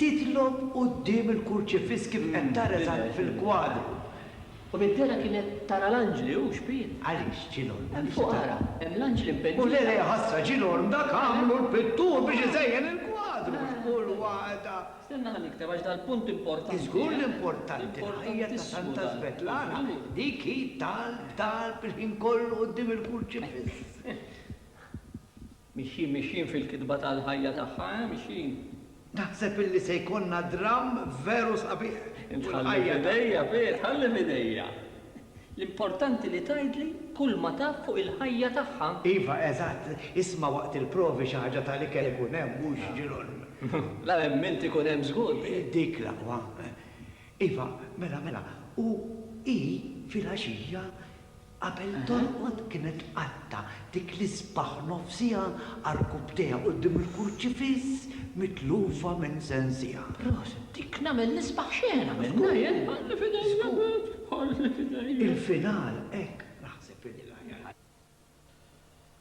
titlob quddiem il-kurċifiss kif qed tara eżatt fil-kwadru. U minn dehra kienet tara l-anġli u xbieh. Għaliex, Ġilgħorm? Hemm fuq ara, hemm l-anġli mpenġija. U le le, ħasra, Ġilgħorm, dak għamlu l-pittur biex iżejjen il-kwadru, mhux kull waħda. Stenna ħa nikteb għax dal-punt importanti, eh? Żgur li importanti, l-ħajja ta' Santa Svetlana, dik hi talb, talb il-ħin kollu quddiem il-kurċifiss. Mixjin mixjin fil-kitba tal-ħajja tagħha eh mixjin. Naħseb illi se jkollna dramm veru sabiħ. Int ħalli f'idejja Piet, ħalli f'idejja. L-importanti li tgħidli kull ma taf fuq il-ħajja tagħha. Iva eżatt, isma' waqt il-provi xi ħaġa tal-ikel ikun hemm mhux ġirolm. La hemm int ikun hemm żgur Piet. Dik l-aqwa. Iva, mela mela, u hi filgħaxija Qabel torqod kienet tqatta' dik l-isbaħ nofsiha għarkub tiegħek quddiem il-kurċifiss mitlufa minn sensiha. Proset. Dik nagħmel l-isbaħ x'għen għamilna jien. Ħalli f'idejja Pit, ħalli f'idejja. Il-final hekk naħseb li hu l-aħjar.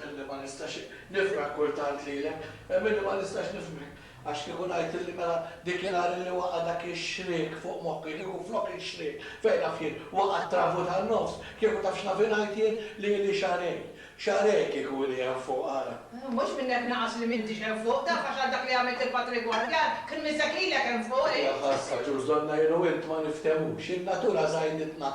Milli ma nistax nifraħ kultant lilek, milli ma nistax nifhmek, għax kieku ngħidtilli mela dik in-nhar illi waqa' dak ix-xriek fuq moħħi, kieku flok ix-xriek, fejn naf jien, waqa' t-travu tan-nofs, kieku taf x'naf ingħid jien li ili xahrejn, xahrejn kieku ili hemm fuq, ara. Mhux minn hekk naqas li m'intix hemm fuq, taf għax għal dak li għamilt il-Patri Gwardjan, kien missek lilek hemm fuq, hi? Jaħasha, ġuż donnajru int ma niftehmux, in-natura żgħiditna.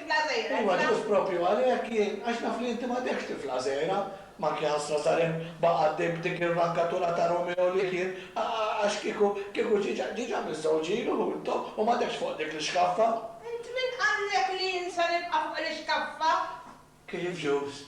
Tifla żgħira, tifla. Iva, ġust proprju għalhekk jien, għax naf li inti m'għadekx tifla żgħira, m'ankiħassra Salim baqa' għaddej b'dik ir-rankatura ta' Romeo li kien, għax kieku, kieku ġiġa, ġiġa miż-żewġ ilu hu intom u m'għadekx fuq dik l-ixkaffa. Int min qallek li jien se nibqa' fuq l-ixkaffa? Kif ġust?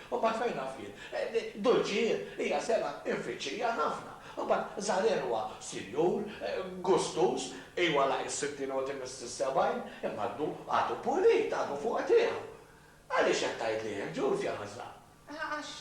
U mbagħad fejn naf jien? Dulċi jien, hija sengħa mfittxija ħafna. U mbagħad Żarer huwa sinjur, gustuż, ejwa laqi s-sittin u tmiss is-sebgħin, imma għadu, għadu pulit, għadu fuq tiegħu. Għaliex qed tgħidli hekk, Ġulfja ħażla? Għax,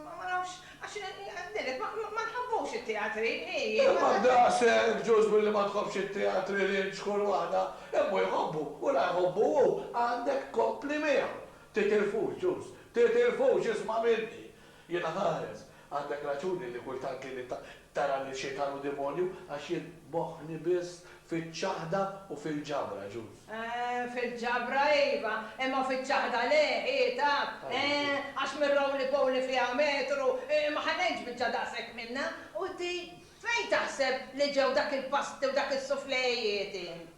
ma nafx, għax ngħidilek, ma nħabbux it-teatri, hi. Imma daqshekk, Ġuż, billi ma tħobbx it-teatri, Lynch, kull waħda, immu jħobbu u la jħobbu hu, għandek tkompli miegħu. Titilfux, Ġus, titilfux, isma' minni! Jiena ħares. Għandek raġuni li kultant lili tara lil xitan u demonju għax jien moħħni biss fiċ-ċaħda u fil-ġabra, Ġus. Eh, fil-ġabra iva, imma fiċ-ċaħda le, hi taf. Eh, għax mir-roly-poly li fiha metru, ma ħallejtx biċċa daqshekk minnha. U di, fejn taħseb li ġew dak il-pasti u dak is-suflejiet int?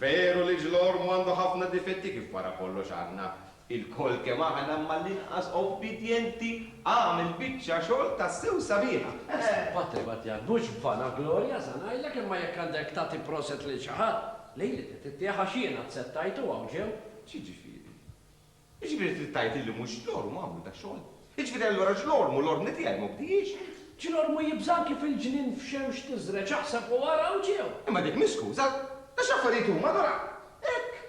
Veru li Ġlormu għandu ħafna difetti kif wara kollox għandna ilkoll kemm aħna imma l-inqas obbidjenti għamel biċċa xogħol tassew sabiħa. Eħ patri Batjan mhux vana glorja sa ngħidlek imma jekk għandek tagħti proset lil xi ħadd, lili trid ittih għax jiena tsettajtu hawn ġenb, x'jiġifieri? Jiġifieri trid tgħid illi mhux l-orm għamlu dax-xogħol? Jiġifieri allura x'l-orm u l-ordni tiegħi ma bdiex? X'l-ormu jibża' kif il-ġnien f'xemx tiżreġ aħseb u ara u ġew. Imma dik mhix skuża. Għax l-affarijiet huma allura hekk.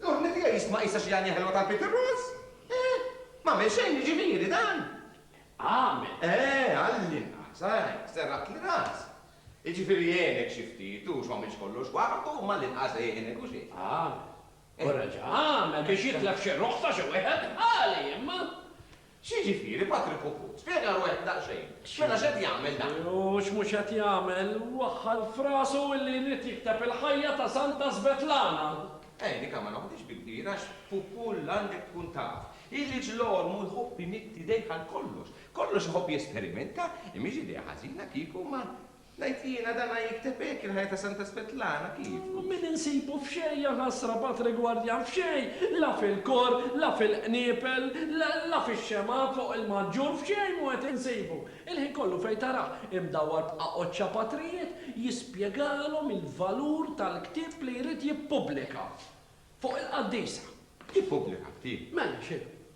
L-ordni tiegħi jistma' qisha xi għanja ħelwa tal-Peter Ross. Eh! M'għamel xejn jiġifieri dan? Għamel! Eh, għall-inqas, eh, serraħtli ras. Jiġifieri għenek xi ftit u x'ma għamilx kollox waħdu, imma għall-inqas għenek u xejn. Għamel. U reġa' għamel biex jitlef xi ruħ ta' xi wieħed ħali, imma. X'jiġifieri, Patri Puput? Spjega ruħek daqsxejn. Mela x'qed jagħmel dan? U x'mhux qed jagħmel? Waħħal f'rasu illi jrid jikteb il-ħajja ta' Santa Svetlana! Għeni ka ma noħdix bi kbir għax, Pupul, għandek tkun taf illi ġl-ormu jħobb imidd idejh għal kollox. Kollox iħobb jesperimenta, imiex idea ħażina kieku ma. Ngħid jiena dana jikteb hekk il-ħajja ta' Santa Svetlana kif? Min insibu f'xejn jaħasra b'għad rigwardjan f'xejn, la fil-kor, la fil-qniepel, la fix-xemgħa fuq il-maġġur f'xejn mhu qed insibu. Il-ħin kollu fejn tarah imdawwar b'qaqoċċa patrijiet jispjegalhom il-valur tal-ktieb li jrid jippubblika. Fuq il-qaddisa. Ippubblika ktieb? Mela x'inhu?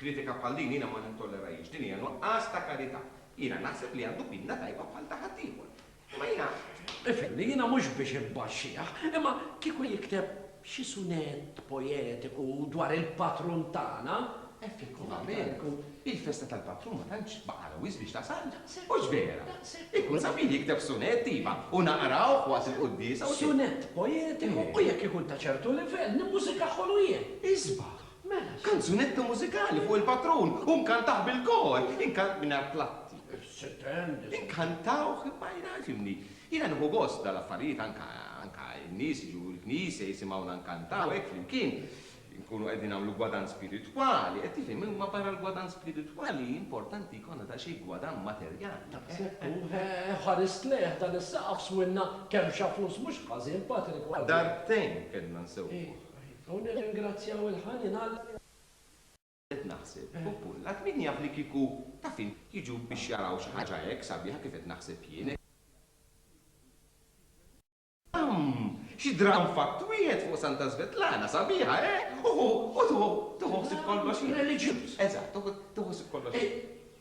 Kritika bħal din jiena ma nittollerahiex. Din hija nuqqas ta' karità. Jiena naħseb li għandu pinna tajba bħal ta' ħaddieħor. Imma jiena. Ifhimni, jiena mhux biex imbaxxih, imma kieku jikteb xi sunett poetiku dwar il-patrun tagħna, effettivament, il-festa tal-patrun ma tantx baqgħalha wisq biex tasalna. Hux vera? Ikun sabiħ jikteb sunett, iva, u naqrawh waqt il-quddiesa u. Sunett poetiku u jekk ikun ta' ċertu livell, nimmużikaħħulu jien. Isbaħ! Mela, kanzunetta mużikali fuq il-patrun u nkantah bil-kor, inkant mingħajr platti. Inkantawh imma jiena fimni. Jiena nieħu gost dal-affarijiet anka anka n-nies jiġu l-knisja jisimgħuna nkantaw hekk flimkien. Inkunu qegħdin nagħmlu gwadann spiritwali, qed tifhem, imma barra l-gwadann spiritwali importanti jkollna daqsxejn gwadann materjali. Daqshekk hu, eh, ħarist lejh dan is-saqaf swinna kemmxa flus mhux ħażin, Patrick, u għal. Darbtejn kellna nsewwuh. U nirringrazzjaw il-ħanin Alla li għażilna. Qed naħseb, u Pullak, min jaf li kieku, taf int, jiġu biex jaraw xi ħaġa hekk sabiħa kif qed naħseb jien, hekk dramm, xi dramm f'att wieħed fuq Santa Svetlana, sabiħa, eh? U tieħu ħsieb kollox. Reliġjuż. Eżatt, tieħu ħsieb kollox.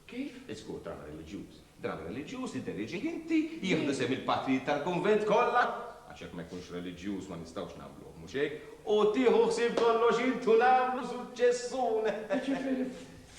Kif? Iżgur dram reliġjuż. Dram reliġjuż li dderieġih inti, jieħdu sehem il-patrijiet tal-kunvent kollha, għax jekk ma jkunx reliġjuż ma nistgħux nagħmluh, mhux hekk? U tieħu ħsieb kollox int u nagħmlu suċċessun! Jiġifieri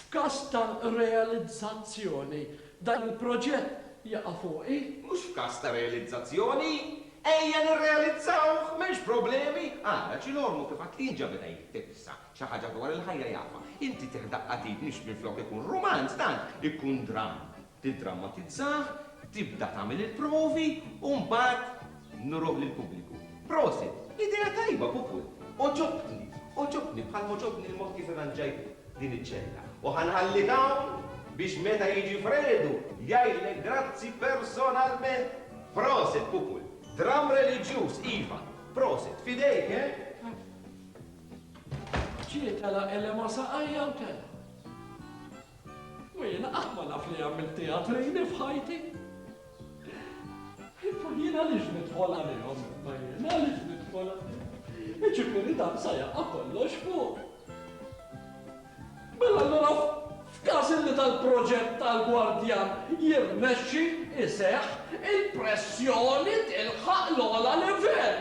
f'każ ta' realizzazzjoni, dan il-proġett jaqa' fuqi? Mhux f'każ ta' realizzazzjoni! Ejja nirrealizzawh, m'hemmx problemi! Ara, Ċilormu kif għad kien ġabidha jittifsa. Xi ħaġa dwar il-ħajja jafha. Inti tih daqqa t'id nix minflok ikun rumanz dan ikun dramm. Tiddrammatizzah, tibda tagħmel il-provi u mbagħad nuruh lill-pubbliku. Prosit! Idea tajba Pupul! Għoġobtni! Għoġobtni bħal m'għoġobni l-mod kif irranġajt din iċ-ċella. U ħa nħallik hawn biex meta jiġi Fredu jgħidlek grazzi personalment! Prosit Pupul! Dramm reliġjuż, iva! Prosit! F'idejk, eh? Ġie telaq Elema saqajja u telgħa. U jiena qatt ma naf li għamilt teatrini f'ħajti. Ippu jien għaliex nidħol għalihom imma jien għaliex nidħol għalihom. Iġifieri dan sa jaqa' kollox fuq. Mela allura f'każ li tal-proġett tal-gwardjan jirnexxi iseħħ, il-pressjoni tilħaq l-ogħla livell.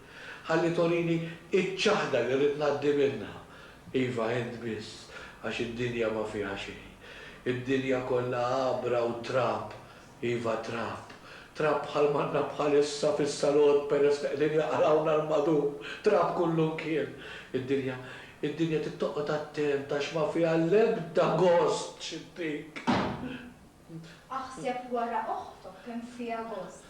Ħalli torini iċ-ċaħda li rrid ngħaddi minnha. Iva, int biss, għax id-dinja ma fiha xejn. Id-dinja kollha għabra u trab, iva trab. Trab bħal m'għandna bħalissa fis-salott peress li qegħdin jaqrawna 'l madur. Trab kullimkien. Id-dinja, id-dinja trid toqgħod attent għax ma fiha l-ebda gost x'ittik. Aħseb wara oħtok kemm fiha gost.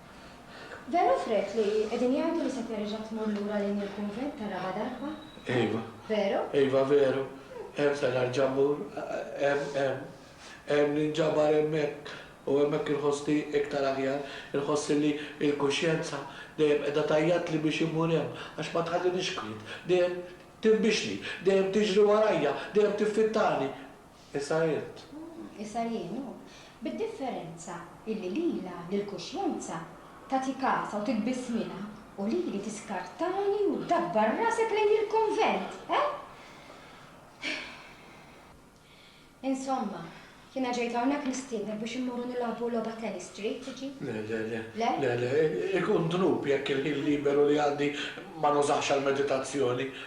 Vera fred li qegħdin jgħidu li se terġa' tmur lura lejn il-kunvent ta' raba' darba? Iva. Veru? Iva veru. Hemm se nerġa' mmur. Hemm, hemm. Hemm ninġabar hemmhekk u hemmhekk inħossni iktar aħjar. Inħoss li l-kuxjenza dejjem qiegħda tgħajjatli biex immur hemm għax ma tħallinix kwiet. Dejjem tinbixni, dejjem tiġri warajja, dejjem tiffittani. Issa jien. Issa jien, hu. Bid-differenza illi lilha, lill-kuxjenza, tagħti kasha u titbiss minha, u lili tiskartani u ddabbar rasek lejn il-kunvent, eh? Insomma, jiena ġejt hawnhekk nistiednek biex immorru nilagħbu logħba tennis street, tiġi? Le, le, le. Le? Le, le, ikun dnub jekk il-ħin liberu li għandi ma nużahx għall-meditazzjoni.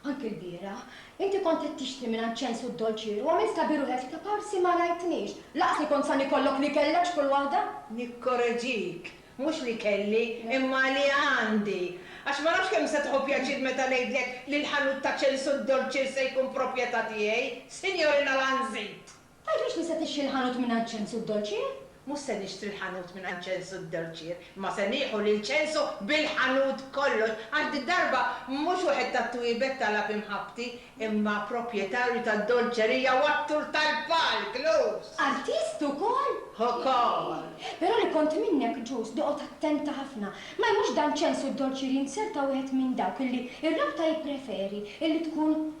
Anki lbieraħ. Inti kont qed tixtri mingħand Ċensu d-dolċieru u għamilt ta' biruħek li ta' parsi ma rajtnix. Lanqas ikun san ikollok li kellek x'kull waħda. Nikkoreġik, mhux li kelli, imma li għandi. Għax ma nafx kemm se tieħu pjaċir meta ngħidlek li l-ħanut ta' Ċensu d-dolċier se jkun propjetà tiegħi, Sinjorina Lanzit! Tgħid mhux li se tixtri l-ħanut mingħand Ċensu d-dolċier? Mhux se nixtri l-ħanut mingħand Ċensu d-dolċier, imma se nieħu lil Ċensu bil-ħanut kollox, għax did-darba mhux wieħed tat-twiebet talab imħabbti, imma proprjetarju tad-dolċerija u attur tal-palk, Luz! Artist ukoll? Ukoll! Però li kont minnek, Ġus, noqgħod attenta ħafna. Ma jmurx dan Ċensu d-dolċier jinzerta wieħed minn dawk illi r-rabta jippreferi illi tkun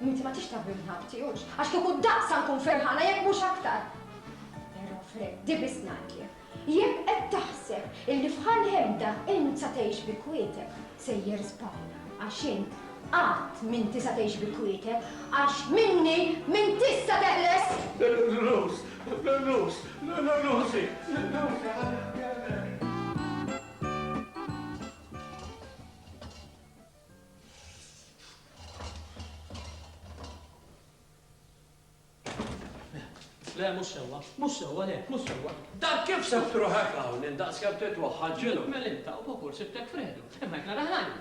Inti ma tix tagħmilni ħabti, hux? Għax kieku daqsa nkun ferħana jekk mhux aktar. Però Freddy biss ngħidlek, jekk qed taħseb illi f'Ħal Hemda int sa tgħix bi kwietek, sejjer żball għax int qatt m'inti sa tgħix bi kwietek għax minni m'intix sa teħles! Lulus! Lulus! Lulusi! Lulusi ħalli nkellmek! Le, mhux sewwa, mhux sewwa, le, mhux sewwa. Dak kif se ftruħek hawn indaqs kemm titwaħħal ġilu. Mel inta u popur sibtek fredu. Imma jekk nara ħajja.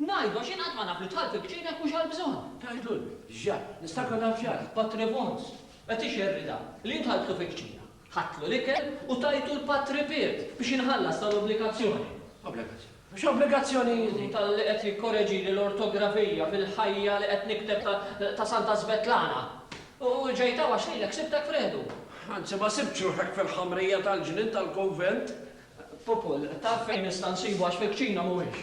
Ngħidu għax jien qatt ma naf li tħall fil-kċina jekk mhux għal bżonn. Tgħidlu l-ġar, nistakru naf ġar, Patri Vons, qed ixerrida li jien tħalltu fil-kċina. Ħadtlu l-ikel u tajtu l-patt ripiet biex inħallas tal-obbligazzjoni. Obbligazzjoni. X'obbligazzjoni? Talli qed jikkoreġili l-ortografija fil-ħajja li qed nikteb ta' Santa Svetlana. U ġejt hawn għax lilek sibtek f'riħdu. Anzi ma sibtx ruħek fil-ħamrija tal-ġnien tal-kunvent. Pupul, taf fejn nista' nsibu għax fil-kċina mhuwiex.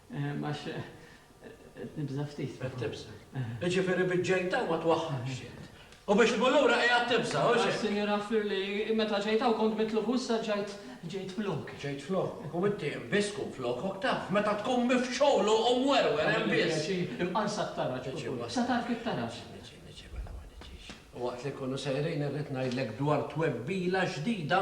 Għax qed nibża' ftit. Qed tibża'. Jiġifieri biex ġejt hawn ma twaħħalx int. U biex tmur lura qiegħed tibża', hux hekk? Sinjura Furley, meta ġejt hawn kont mitluf u issa ġejt, ġejt flok. Ġejt flok? U inti hemm biss tkun flokok taf. Meta tkun mifxul u mwerwer hemm biss. Tagħmilli l-pjaċir, imqarsa t-taraġ, Pupur. Se tagħrf it-taraġ. Niġi, niġi, mela ma niġix. U waqt li nkunu sejrin irrid ngħidlek dwar twebbila ġdida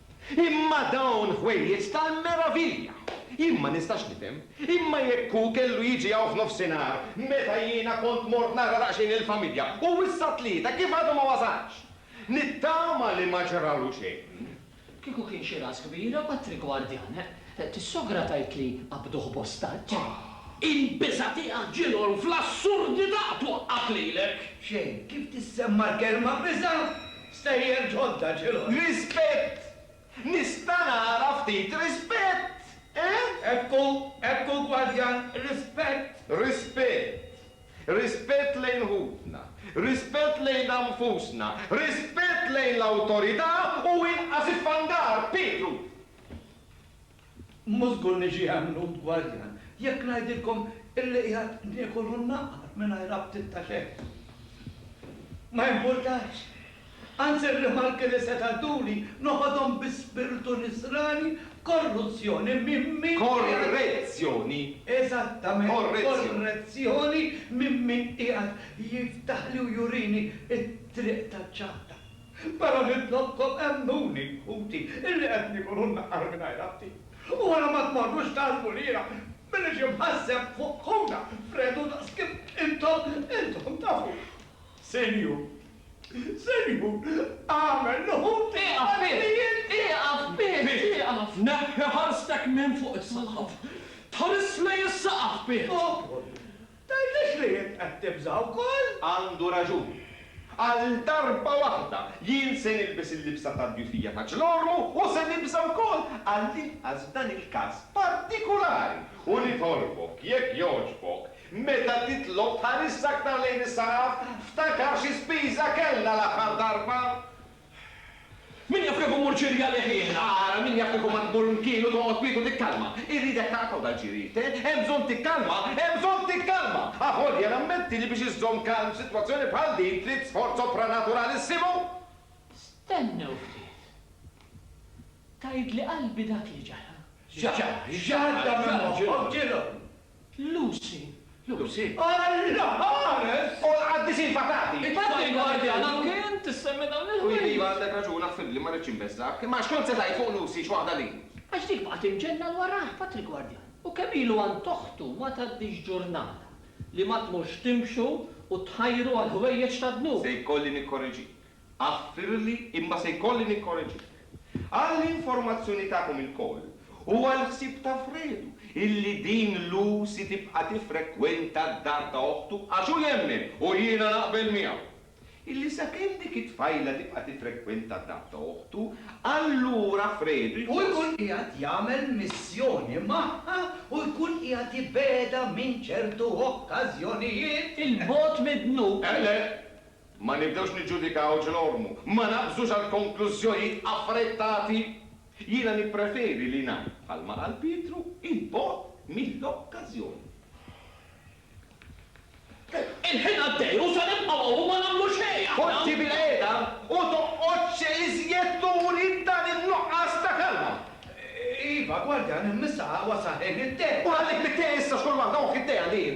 Imma dawn ħwejjeġ tal-meravilja! Jien ma nistax nifhem, imma jekk hu kellu jiġi hawn f'nofsinhar meta jiena kont mort nara daqsxejn il-familja u issa t-Tlieta kif għadu ma wasalx? Nittama li ma ġralu xejn. Kieku kien xi ras kbira Patrick Guardian, s-sogra tgħidli qabduh b'ostaġġ. Il-biża' tiegħek ġilhom fl-assurdità twaqqgħek lilek! Xejn, kif tissemma l-kelma biża'? Stejjer ġodda ġilhom. Rispett! Nista' nara ftit rispett, eh? Ekku, ekku gwardjan, rispett! Rispett! Rispett lejn ħutna, rispett lejna nfusna, rispett lejn l-awtorità u inqas iffandar, Pietru! Mhu żgur li ġie għemnut gwardjan jekk ngħidilkom illi qiegħed niekol u nnaqar mingħajr aptit ta' xejn. Ma jimpurtax. Anzi r-rimarki li seta' dduli noħodhom bi spirtu nisrani b'korruzzjoni minn min qiegħed. Korrezzjoni! Eżattament. Korrezzjoni. Korrezzjoni minn min qiegħed jiftaħli u jurini t-triq taċ-ċaħda. Mela nitlobkom emmnuni, ħuti, illi qed nikol u nnaqqar mingħajr ħati. U wara ma tmorrux tgħallmu lira min iġi mħasseb fuq ħuna f'redu daqs kif intom, intom tafuh. Sinjur, Sinjur, agħmel li ħuti għall-klijenti. Ieqaf, Piet, ieqaf! Neħħi ħarstek minn fuq is-saqaf. Tħarisli is-saqaf, Piet! Tgħidlix li int qed tibża' wkoll? Għandu raġun. Għal darba waħda, jien se nilbes il-libsa tad-djufija ta' Ġnormu u se nibża' wkoll, għall-inqas f'dan il-każ partikulari, u nitolbok, jekk jogħġbok, meta titlob tħarisx aktar lejn is-saraf, ftakar xi spiża kellna l-aħħar darba! Min jaf kemm immur ċirja leħien! Ara, min jaf kieku ma tmur mkienu toqgħod kwiet u tikkalma! Irridek taqta' u dal-ġiri, te? Hemm bżonn tikkalma! Hemm bżonn tikkalma! Avolja nammetti li biex iżżomm kalm f'sitwazzjoni bħal din trid sforz sopranaturaalissimu! Stennew ftit. Tgħidli qalbi dak li ġara? X'ġara? X'ġara? Għadda minn moħħok, ġieli! Lucy. Lucy. Alla! Ħares! U l-qaddisin fatati! Infatti l-gwardjana kien tissemmi dawn il-ħwejjeġ. Iva, għandek raġun, affibbli, ma rridx inbeżżgħek. Imma għax kont se tgħid fuq Lucy x'waħda li. Għax dik baqgħet imġenna l warajh, bat il-gwardjan. U kemm ilu għand oħtu ma tgħaddix ġurnata li ma tmurx timxu u tħajru għall-ħwejjeġ tad-dnub. Se jkolli nikkorreġik. Aħfirli imma se jkolli nikkoreġik. Għall-informazzjoni tagħkom ilkoll u għall-ħsieb ta' Fredu illi din Lucy tibqa' tiffrekwenta d-dar ta' oħtu għax hu jemmen, u jiena naqbel miegħu, illi sakemm dik it-tfajla tibqa' tiffrekwenta d-dar ta' oħtu, allura Fredu jħoss. Hu jkun qiegħed jagħmel missjoni magħha u jkun qiegħed jibegħedha minn ċertu okkażjonijiet. Il-bogħod mid-dnub. Eh le! Ma nibdewx niġġudikaw ġl ormu. Ma naqbżux għal konklużjojiet affrettati. Jiena nippreferi li ngħid bħalma qal Pietru, 'il bogħod mill-okkażjoni. Il-ħin għaddej u se nibqgħu hawn u ma nagħmlu xejn aħna. Poġġi bil-qiegħda u toqgħodx iżjed turi dan in-nuqqas ta' kalma. Iva, gwardjan, immissa wasal ħin it-te. U ħallik mit-te issa xogħol waħda, ohh it-te għalih.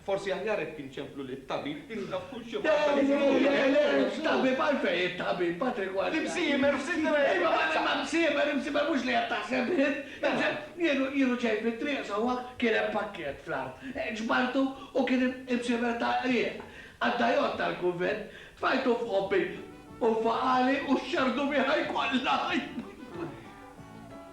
Forsi aħjar hekk inċemplu lit-tabib li naf kull xi ħaġa. Dawn huma elenks, tabib għalfejn it-tabib Patrick wara. L-imsiemer f'sitrek! Iva ma l-imsiemer, imsiemer mhux li qed taħseb int. Mela. Jienu ġej fit-triq sewwa kien hemm pakkett fl-art. Ġbartu u kien imsiemer ta' qrieq. Qaddajot tal-kunvent. Tfajtu f'ħobbi u faqali u xxarrdu bih ħaj kollha.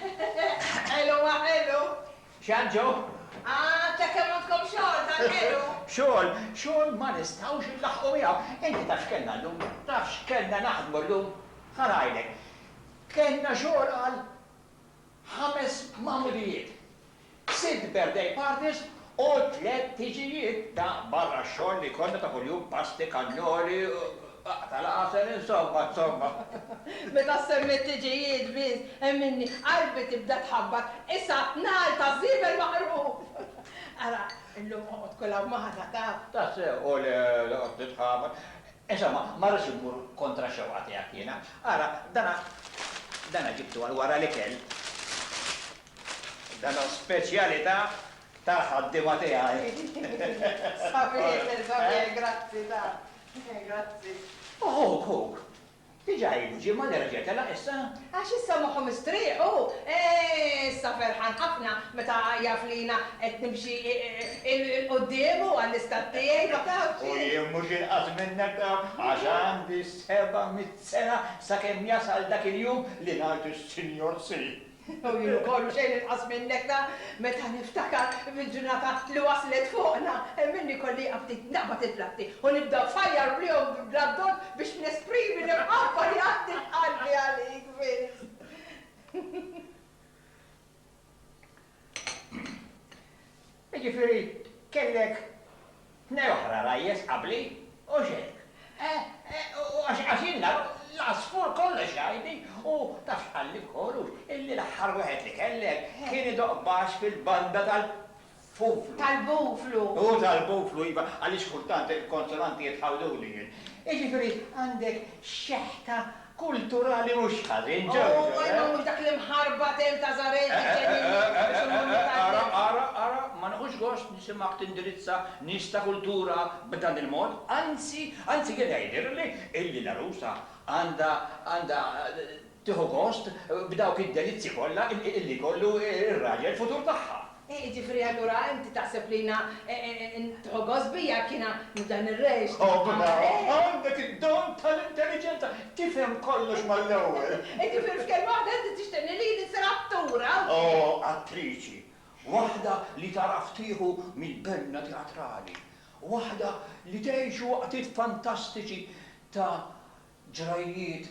Ħelu ma ħelu! X'għad ġo? Ah, ta' kemm għandkom xogħol tal-ħelu! Xogħol, xogħol ma nistgħux inlaħħqu miegħu! Inti taf x'kellna llum? Taf x'kellna naħdmu llum? Ħa ngħidlek. Kellna xogħol għal ħames magħmudijiet. Sitt birthday parties u tliet tiġijiet ta' barra x-xogħol li jkollna ta' kuljum, pasti, kannoli, qatgħa l-għasel, insomma, insomma. Meta ssemmi t-tiġijiet biss, hemm minni qalbi tibda tħabbat, issa nhar taż-żiebel maqruf! Ara, illum oqgħod kulha magħna, taf. Tassew, u le, noqgħod nitħabat. Insomma, ma rridx immur kontra x-xewqa tiegħek jiena. Ara, dana, dana ġibtu għal wara l-ikel. Data speċjalità tal-ħaddiema tiegħi. Sabiħ, sabiħ, grazzi ta'. Grazzi. Ħuk, ħuk. Diġà ilu ġimgħa li reġa' telaq issa? Għax issa moħħu mistrieħ hu. Issa ferħan ħafna meta jaf li jiena qed nimxi 'l quddiem u għall-istat tiegħi, ma tafx. U jien mhux inqas minnek taf, għax għandi seba' mitt sena sakemm jasal dak il-jum li ngħid is-Sinjor Si. Hu jien ukoll u xejn inqas minnek ta' meta niftakar fil-ġurnata li waslet fuqna hemm minni kolli jieqaf ftit naqbad il-platti u nibda nfajjar bihom bla bdot biex nesprimi l-imħabba li għandi f'qalbi għalik biss. Jiġifieri kellek tnej oħra rajjes qabli, hux hekk? Għax ilna l-għasfur kollox jgħidli, u taf x'qalli wkoll hux, illi l-aħħar wieħed li kellek kien idoqq baxx fil-banda tal-fuflu. Tal-buflu. Hu tal-buflu, iva, għaliex kultant il-konsonanti jitħawduli jien. Jiġifieri għandek xeħta kulturali mhux ħażin, Jojo, eh? Oh, ma jmawwlux dak l-imħarbat hemm ta' żgħażagħ li ġejjin jieqfu biex immorru l-Italja! Eh, eh, eh, ara, ara, ara, ma nieħux gost nisimgħek tindirizza nies ta' kultura b'dan il-mod, anzi, anzi jien jgħidilli illi l-għarusa għandha, għandha tieħu gost b'dawk id-delizzji kollha illi jkollu r-raġel futur tagħha. Eh, jiġifieri allura inti taħseb li jiena eh, eh, nidħol gost bija jekk jiena nibda nirreġ. Oh, mela, għandek id-don tal-intelliġenza, tifhem kollox mal-ewwel. Jiġifieri f'kelma waħda inti tixtieqni li jien issir attura? Oh, attriċi. Waħda li tagħraf tieħu mill-benna teatrali. Waħda li tgħixu waqtiet fantastiċi ta' ġrajjiet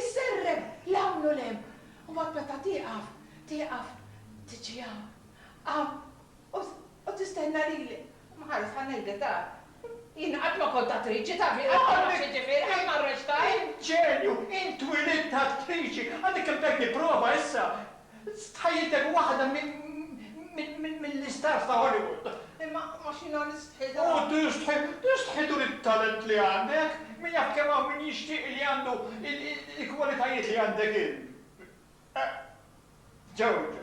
Isserreb 'l hawn u 'l hemm, u mbagħad meta tieqaf, tieqaf, tiġi hawn, hawn, u, u tistenna lili. Mħares, ħa ngħidlek, tara. Jien qatt ma kont attriċi, taf, jien qatt ma naf x'jiġifieri, qatt ma rreċtajt. Inġenju! Int twilidt attriċi! Għadek kemm tajtni prova issa! Stħajjiltek waħda mill-istars ta' Hollywood. Imma għax jiena nistħi. U tistħi, tistħi turi t-talent li għandek. Min jaf kemm hawn min jixtieq li għandu l-kwalitajiet li għandek int. Ġorġo.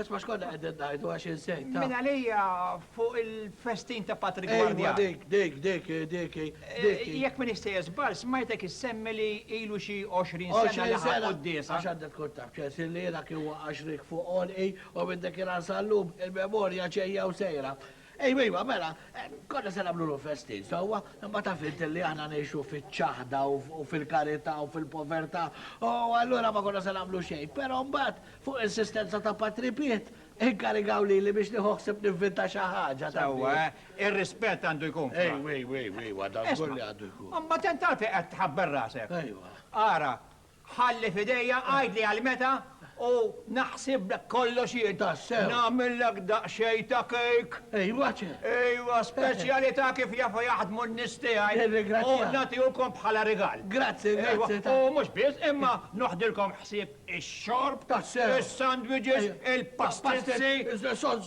Isma xkonna għedin najdu għax insejt. Min għalija fuq il-festin ta' Patrick Guardia. Dik, dik, dik, dik. Eh, jek min jista jizbal, smajtek jissemmi li ilu xi 20 sena li ħakku d-disa. Għax għandek tkun taf ċesir li jena kien waqax rik fuq olqi u minn dik il-ansallum il-memorja ċejja u sejra. Ejwa, ejwa, mela, konna se nagħmlu l-festin sewwa, imma taf int li aħna ngħixu fiċ-ċaħda u fil-karità u fil-povertà, u allura ma konna se nagħmlu xejn. Però mbagħad, fuq insistenza ta' Patri Piet, inkarigaw lili biex nieħu ħsieb nivvinta xi ħaġa, taf. Sewwa, eh? Ir-rispett għandu jkun f'Kra. Ejwa, ejwa, ejwa, ejwa, dażgur li għandu jkun. Imma tant għalfejn qed tħabber rasek? Ejwa. Ara, Ħalli f'idejja, għidli għal meta u naħsiblek kollox jien. Tassew? Nagħmillek daqsxejn ta' kejk. Ejwa ċe! Ejwa, speċjalità kif jafu jaħdmu n-nies tiegħi. Nirringrazzjak. U nagħtihukom bħala rigal. Grazzi, grazzi ta'. Ejwa, u mhux biss, imma noħdilkom ħsieb ix-xorb. Tassew? Is-sandwiches, il-pastizzi. Pastit, is-sodz.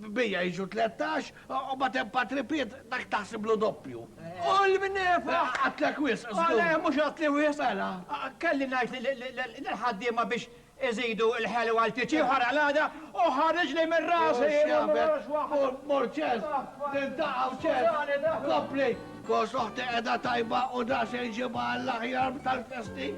Bija jiġu tlettax, u mbagħad hemm patripiet dak taħsiblu doppju. U l-mnefa! Qatlek wisq, żgur. Le, mhux qatli wisq, għela? Kelli ngħid lill-ħaddiema biex iżidu l-ħelu għal titjib bħal għalgħada u ħariġli minn rasi! Mhux jagħbek! Mur, mur ċez! Niltaqgħu ċez! Kompli! Kos oħti qiegħda tajba u da se jġibha għall-aħjar tal-festi!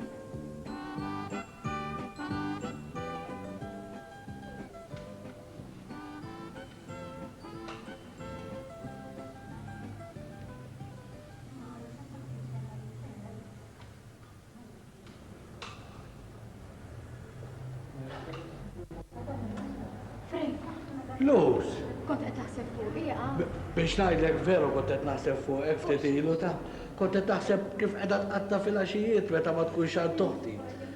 Luz. Kont qed taħseb fuq hija. Biex ngħidlek veru kont qed naħseb fuq hekk ftit ilu ta' kont qed taħseb kif qiegħda tqatta' fil-għaxijiet meta ma tkunx għand toħti.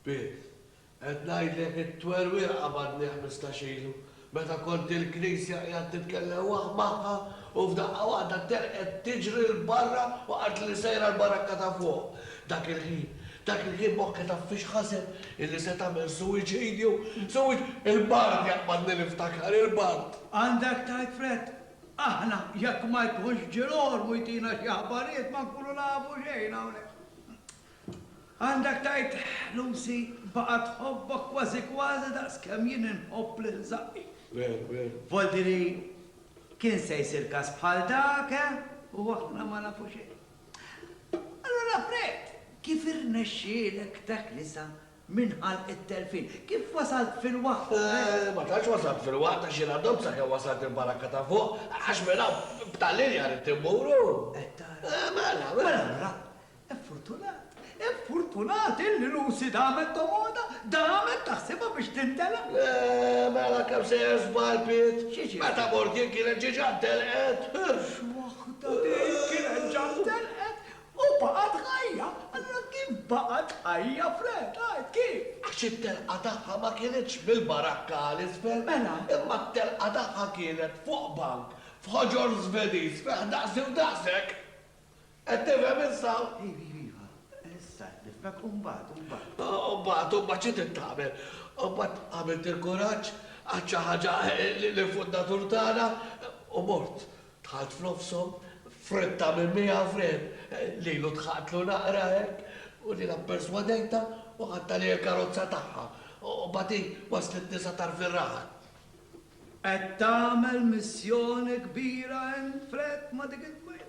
Pit, qed ngħidlek it-twerwieqa qabadni ħmistax ilu, meta kont il-knisja qiegħed nitkellem waħ magħha u f'daqqa waħda telqet tiġri 'l barra u qaltli sejra l-barakka ta' fuq. Dak il-ħin. Dak il-ħin moħħi taf fiex ħaseb? Illi se tagħmel suwiċidju. Suwiċ. Il-bard jaqbadni niftakar, il-bard! Għandek tgħid frett. Aħna jekk ma jkunx ġie l-ormu jtina xi aħbarijiet ma nkunu nafu xejn hawnhekk. Għandek tgħid Lucy baqgħet tħobbok kważi kważi daqs kemm jien inħobb lil żaqqi. Veru, veru. Voltiri kien se jsir każ bħal dak, eh? U aħna ma nafu xejn. Allura Fred, kif irnexxielek teknisa minn ħalq it-telfin? Kif wasalt fil-waqt, Fred? Ma tantx wasalt fil-waqt għax jiena domm sakemm wasalt il-barakka ta' fuq għax minn hawn b'tal-linja ridt immur u. Qed tara? Mela, mela. Mela allura, effurtunat, Infortunati li Lucy damet tomoda, damet taħsibha biex tintelaq. Eeh, mela kemm sejjer żball Piet! X'jiġifieri? Meta mort jien kienet ġiġa ntelqet! X'waħda din, kienet ġa ntelqet u baqgħet ħajja! Allura kif baqgħet ħajja, Fred, għid, kif? Għax it-telqa tagħha ma kinitx mill-barakka għal isfel. Mela? Imma t-telqa tagħha kienet fuq bank f'ħoġor Żvediż fih daqsi u daqsek! Qed tifhem issa? Iva, iva, iva. Issa qed nifhmek. U mbagħad, u mbagħad? U mbagħad, u mbagħad xi trid tagħmel? U mbagħad għamilt il-kuraġġ, għadt xi ħaġa lill-Fundatur tagħna u mort. Dħalt f'nofshom, fritta minn miegħu f'riħ. Lilu dħaqtlu naqra hekk, u jiena pperswadejtha u ħadt għalija l-karozza tagħha. U mbagħad hi wasslitni sa tarf ir-raħal. Qed tagħmel missjoni kbira int, Fred, ma' dik it-tmajla.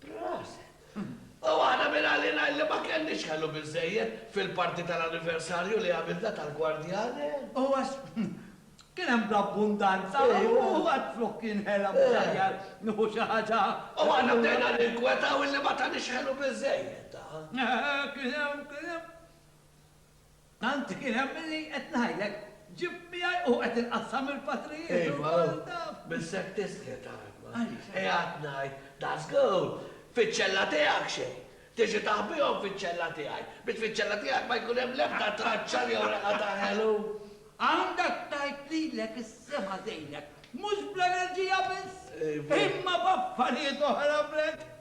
Proset! U waħda minn għalina illi ma kenniex ħelu biżżejjed fil-parti tal-anniversarju li għamilna tal-Gwardjane. Huwa s. Kien hemm bl-abbundanza u għad flok kien ħela mhux aħjar nieħu xi ħaġa. U aħna bdejna ninkwetaw illi ma taniex ħelu biżżejjed, ah. Kien hemm, kien hemm. Tant kien hemm li, qed ngħidlek, ġibt miegħi u qed inqassam mill-patrijiet u l-kol taf. Missek tiskit Arma. Qiegħed ngħid, da żgur, fiċ-ċella tiegħek xejn. Tiġi taħbihom fiċ-ċella tiegħi, biex fiċ-ċella tiegħek ma jkun hemm l-ebda traċċa jew reqgħa ta' ħelu. Għandek tgħid lilek is-sema tgħinek, mhux bl-enerġija biss, imma b'affarijiet oħra, Brett.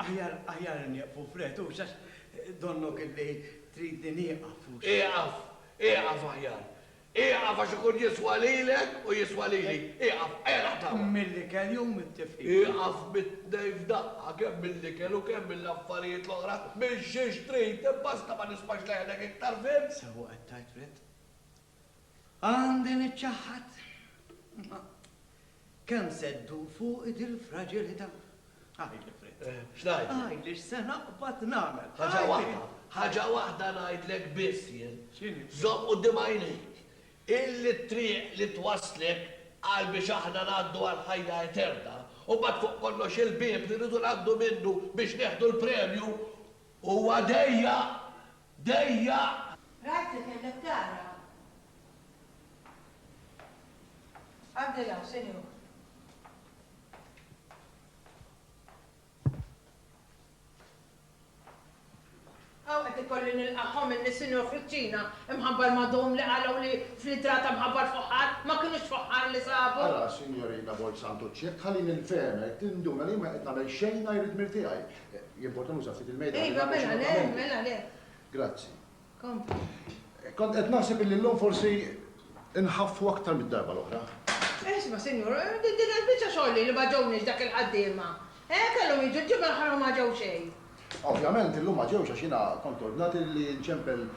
Aħjar, aħjar inieqfu fred, hux għax donnok illi tridni nieqaf, hux? Ieqaf, ieqaf aħjar. Ieqaf għax ikun jiswa lilek u jiswa lili. Ieqaf, ejja naqtgħuha. Mill-ikel jew mit-tifqigħa? Ieqaf mit-tnejn f'daqqa, kemm mill-ikel u kemm mill-affarijiet l-oħra, minn xiex trid, basta ma nismax leħnek iktar, fhimt? Sewwa qed tgħid, Fred. Għandi niċċaħħad. Kemm se ddur fuqi dil-fraġilità? Għidli, Fritz. X'ngħidlek? Għidli x'se naqbad nagħmel. Ħaġa waħda, ħaġa waħda ngħidlek biss jien. X'inhi? Żomm quddiem għajnejk illi t-triq li twasslek għal biex aħna ngħaddu għall-ħajja eterna, u mbagħad fuq kollox il-bieb li rridu ngħaddu minnu biex nieħdu l-premju, huwa dejjaq dejjaq. Rajt li kellek tara. Għaddi 'l hawn, sinjur. Hawn qed ikolli nilqa' homilli, Sinjur Friċċina, imħabbar ma' dom li qalgħu li fl-idrata mħabbar fuħħar, ma kinux fuħħar li sabu. Ara, Sinjorina Bolzantucci, jekk tħallini nfehmek, tinduna li jien ma qiegħed nagħmel xejn ngħajr id-dmir tiegħi. Jimport nuża ftit il-mejda. Iva, mela le, mela le. Grazzi. Kompli. Kont qed naħseb illi llum forsi nħaffu aktar mid-darba l-oħra. Isma' sinjur, din il-biċċa xogħol li ma ġewniex dak il-ħaddiema, eh, kellhom jiġu l-ġimgħa l-oħra u ma ġew xejn. Ovvjament illum ma ġewx għax jiena kont ordnat li nċempel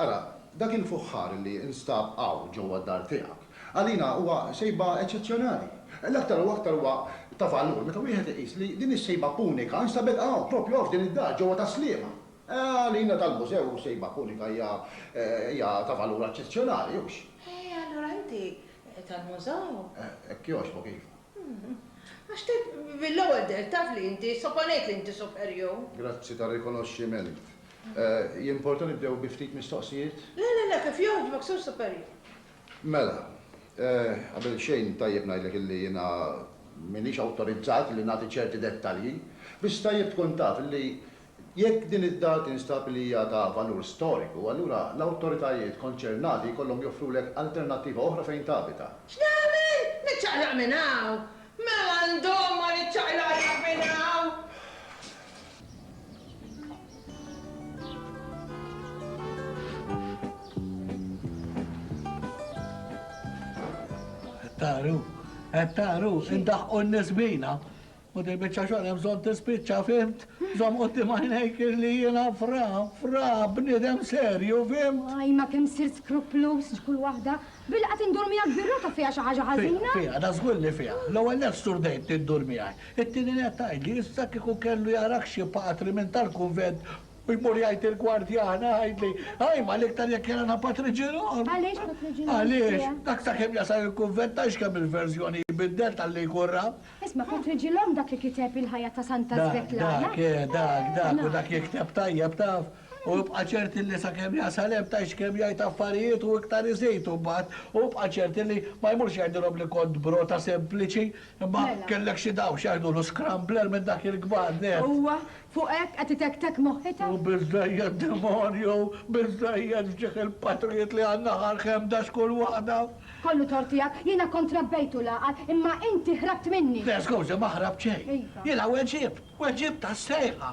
Ara, dak il-fuħħar li nstab hawn ġewwa d-dar tiegħek, għalina huwa sejba eċċezzjonali. L-aktar u aktar huwa ta' valur meta wieħed iqis li din is-sejba punika nstabet hawn, proprju hawn f'din id-dar ġewwa Tas-Sliema. Għalina tal-mużew sejba punika hija hija ta' valur eċċezzjonali, hux? E allura inti tal-mużew? Hekk jogħġbok, iva. Għax te mill-ewwel bdejt taf li inti, soponejt li inti superjur. Grazzi tar-rikonoxximent. Jimporta nibdew bi ftit mistoqsijiet? Le, le, le, kif jogħġbok, Sur Superjur. Mela, qabel xejn tajjeb ngħidlek illi jiena m'iniex awtorizzat li nagħti ċerti dettalji. Biss tajjeb tkun taf illi jekk din id-dar tinstab li hija ta' valur storiku, allura l-awtoritajiet konċernati jkollhom joffrulek alternattiva oħra fejn tabita. X'nagħmel? Niċċaqlaq minn hawn? Mela ndomm ma niċċaqlaqx minn hawn! Taqru, qed taqru, indaħqu n-nies bina. U dil biċċa xogħol hemm bżonn tispiċċa fimt, żomm qudiem għajnejk li jiena fra, fra, bniedem serju, fimt? Għaj ma kemm sirt skruplus ġkull waħda Billi qed indur miegħek bir-rota fiha xi ħaġa ħażina? Fiha, da żgur li fiha. L-ewwel nett sturdejt li ddur miegħi. It-tieni nett tgħidli issa kieku kellu jarak xi patri minn tal-kunvent u jmur jgħid il-gwardjana jgħidli, ajma l-iktar jekk jarana Patri Ġirom! Għaliex Patri Ġirom? Għaliex? Dak sakemm jasal il-kunvent tgħidx kemm il-verżjoni jbiddel talli jkun ra. Isma' Patri Ġirom dak li kiteb il-ħajja ta' Santa Svetlana. Dak, dak, eh, dak, dak u dak jikteb tajjeb taf. U ibqa' ċert illi sakemm jasal hemm tgħix kemm jgħid affarijiet u iktar iżid u mbagħad u ibqa' ċert illi ma jmurx jgħidilhom li kont brota sempliċi imma kellek xi dawl x'jgħidulu scrambler minn dak il-kbar nett. Huwa fuq hekk qed itektek moħħitha? U biżżejjed demonju, biżżejjed f'ġieħ il-patrijiet li għandna ħarq ħemda x'kull waħda. Kollu tort tiegħek, jiena kont rabbejtu l-għaqal imma inti ħrabt minni! Le skużi ma ħrabt xejn. Iva. Jiena weġibt, weġibt għas-sejħa.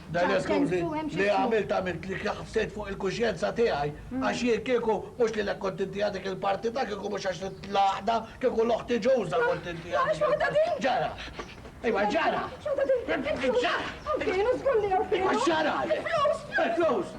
Dan esklużi li għamilt għamilt li ħsejt fuq il-kuxjenza tiegħi għax jien kieku mhux lilek kont intiha dik il-parti ta' kieku mhux għax rid l-għaqda kieku l oħti Ġuża kont intiha dik il-parti. Ġara! Ejwa ġara! Ġara! Ejwa ġara! Il-flus! Il-flus!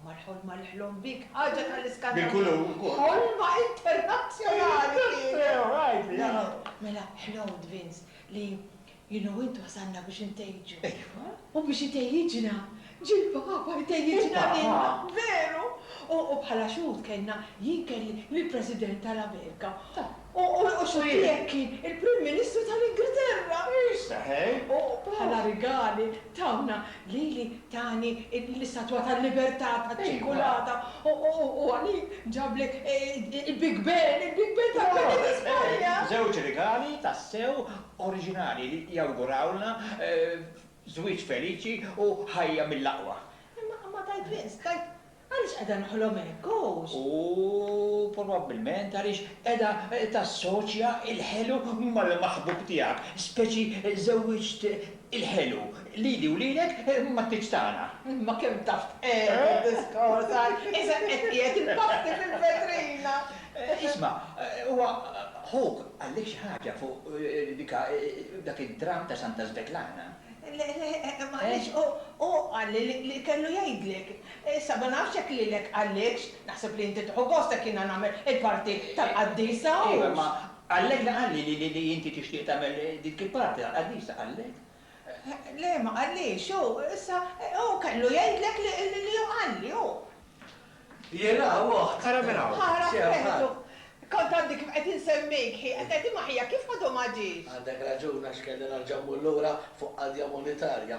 Mal-ħolma li ħlom bik, ħaġa tal-iskandlu, ħolma internazzjonali kienet! Mela, ħlomt, Vince, li jien u int wasalna biex intejġu. U biex itejjiġna, ġie l-Papa jtejjiġna lilna, veru! U bħala xhud kellna, jien kelli lill-President tal-Amerika. U x'għalih kien il-Prim Ministru tal-Ingilterra. U bħala rigali tawna lili tani l-istatwa tal-libertà taċ-ċirkulata u għalik ġabli il-Big Ben, il-Big Ben tal-Beled ta' Spanja. Żewġ rigali tassew oriġinali li jawgurawlna żwieġ feliċi u ħajja mill-aqwa. Imma tajt l-inqs, Għaliex qiegħda nħolom hekk, għox? U probabbilment għaliex qiegħda tassoċja l-ħelu mal-maħbub tiegħek, speċi żewwiġt il-ħelu, lili u lilek mat-tieġ tagħna. Imma kemm taf tqegħed id-diskors, ha? Isek qed qiegħed il-pasti fil-vetrina! Isma', huwa ħuk qallik xi ħaġa fuq dik a, dak id-dramm ta' Santa Svetlana? Le, le, m'qalix, hu qalli li kellu jgħidlek. Issa, ma nafx jekk lilek qallikx, naħseb li inti tieħu gost jekk jiena nagħmel il-parti tal-qaddisa, hux? Iva, imma qallek li qalli li inti tixtieq tagħmel dik il-parti tal-qaddisa, qallek? Le, ma qallix, hu, issa, hu kellu jgħidlek li hu qalli, hu. Jela, oħt! Ara min hawn! Ara, veru! Kont għadni kif qed insemmik, hi qed tgħid imma ħija kif għadu ma ġiex? Għandek raġun għax kelli nerġa' mmur lura fuq qadja monetarja.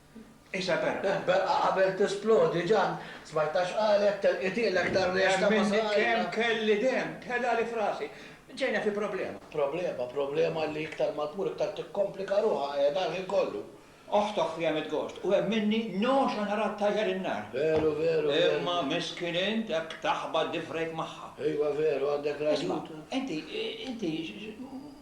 Isabella, Beqqa qabel tisplodi, Ġann, smajtha x'qalet, telqitielek dar lesta ma' saqajja. Hemmhekk kemm kelli demm, telgħali f'rasi. Ġejna fi problema. Problema, problema li iktar ma tmur iktar tikkomplika ruħha, qiegħda l-ħin kollu. Oħtok fiha mitgost u hemm minni noxa nara ttajjar in-nar. Veru, veru, veru. Imma miskin int hekk taħbat diffrejk magħha. Iva veru, għandek raġun. Isma', inti, inti,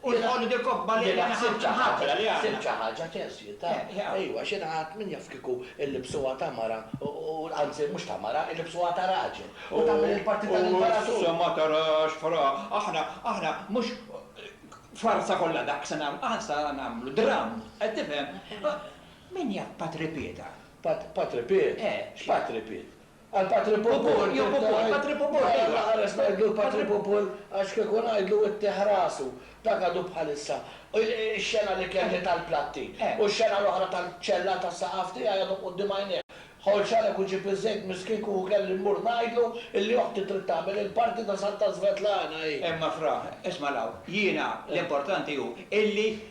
U l-ħolli dil-kobba li għandna naħsbu xi ħaġa li għandna. Sibt xi ħaġa teżjed, ta. Ejwa, għax jiena għad min jaf kieku llibsuha ta' mara u, anzi, mhux ta' mara, illibbsuha ta' raġel. U tagħmel il-parti tal-imperatur. U issa ma tarax fra, aħna, aħna mhux farsa kollha dak se nagħmlu, aħna sa nagħmlu dramm, qed tifhem? Min jaf Patri Pieta? Patri Piet? Eh. X'Patri Piet? Għal patri pupur, jew pupur, patri pupur, iva. Mara ħares ngħidlu l-patri pupur għax kieku ngħidlu ittieħ rasu. Dak għadu bħalissa. Ix-xena li kelli tal-platti u x-xena l-oħra tal-ċella tas-saqaf tiegħi għadhom quddiem għajnejja. Ħolt xareb u ġieb iż-żejt miskin kieku kelli mmur ngħidlu illi oħti trid tagħmel il-parti ta' Santa Svetlana hi. Imma fra, isma' 'l hawn, jiena l-importanti hu illi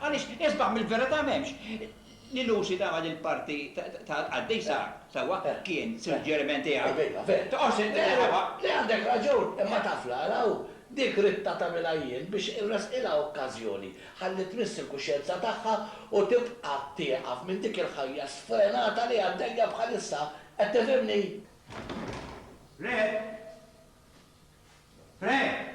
Għaliex isbaħ mill-verità m'hemmx. Li Lucy tagħmel il-parti tal-qaddisa, sewwa, kien suġġeriment tiegħi. Toqgħodx int tqerrebha. Le għandek raġun, imma taf l-għala hu? Dik ridtha tagħmilha jien biex irressqilha okkażjoni, ħalli tmiss il-kuxjenza tagħha u tibqa' tieqaf minn dik il-ħajja sfrenata li għaddejja bħalissa, qed tifhimni? Fred? Fred?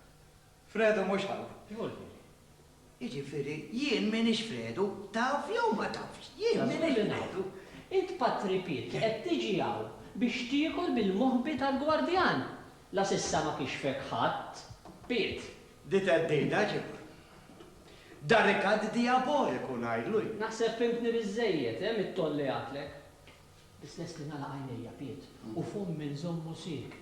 Fredu mhux ħalq. Żgur li le. Jiġifieri, jien m'iniex Fredu, taf jew ma tafx, jien m'iniex Fredu. Int Patri Piet qed tiġi hawn biex tiekol bil-moħbi tal-gwardjan. La s'issa ma kixfek ħadd, Piet. Di theddida ġieb. Da rikatt dijaboliku ngħidlu jien. Naħseb fhimtni biżżejjed, eh, mit-toll li għadtlek. Biss lest li nagħlaq għajnejja, Piet, u fommi nżommu sieket.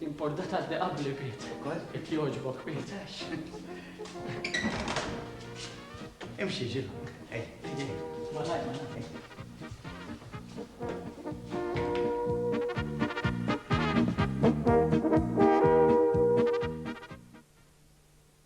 Importa ta' li qabli Pit. Kol? Qed jogħġbok Pit. Imxi ġil. Ej, ej, malaj, malaj.